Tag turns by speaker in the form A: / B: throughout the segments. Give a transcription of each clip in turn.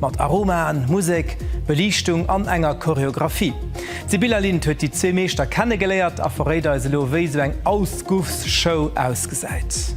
A: Mat Aromaen, Musek, Beliichtung an enger Choreographie. D'Sibylla Lind huet déi zwee Meeschter kennegeléiert a verréit eis elo, wéi esou eng Ausguffs-Show ausgesäit.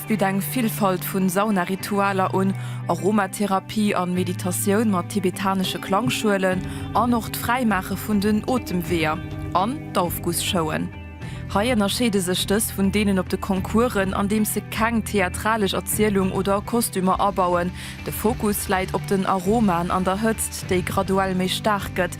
B: bitt eng Villfalt vu Saunaritualer un, Aromatherapie an Meditatioun mat tibetanesche Klangschuelen an och d'Fräimaache vun den Otemweeër an d'Aufgussshowen. Hei ënnerscheede sech dës vun deenen op de Concoursen, andeems se keng theatralesch Erzielung oder Kostümer abauen. De Fokus läit op den Aromaen an der Hëtzt, déi graduell méi staark gëtt.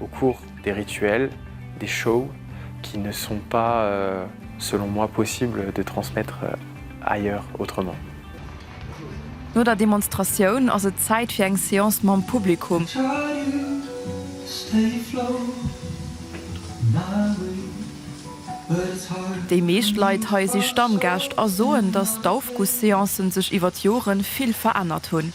C: au cours des rituels, des shows qui ne sont pas selon moi possibles de transmettre ailleurs autrement.
B: No der Demonstratioun ass et Zäit fir eng Seance mam Publikum. Déi meescht Leit hei si Stammgäscht a soen, dass d'Aufgussseancen sech iwwer d'Joren vill verännert hunn.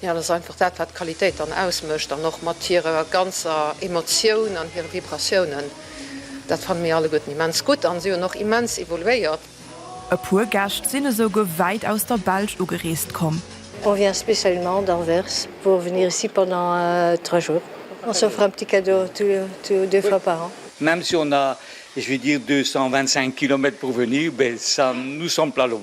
D: Jo, dat ass einfach dat, wat d'Qualitéit dann ausmécht an och mat hirer ganzer Emotioun an hire Vibratiounen. Dat fanne mir alleguerten immens gutt an si hunn och immens evoluéiert. E puer
B: Gäscht sinn esou guer wäit aus der Belsch ugereest komm. On vient spécialement
E: d'Anvers pour venir ici pendant trois jours. On s'offre un petit cadeau tous deux fois par an. Même si on a,
F: je vais dire, 225 kilomètres pour venir, ben ça nous semble pas long.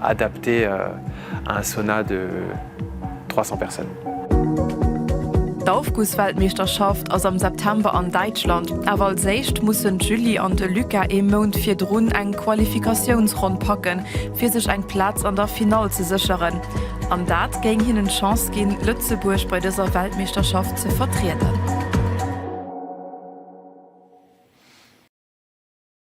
C: Adapté à un sauna de 300 personnes.
B: D'Aufgussweltmeeschterschaft ass am September an Däitschland, awer als éischt mussen d'Julie an de Luca ee Mount virdrun eng Qualifikatiounsronn packen, fir sech eng Plaz an der Finall ze sécheren. An dat géing hinnen d'Chance ginn, Lëtzebuerg bei dëser Weltmeeschterschaft ze vertrieden.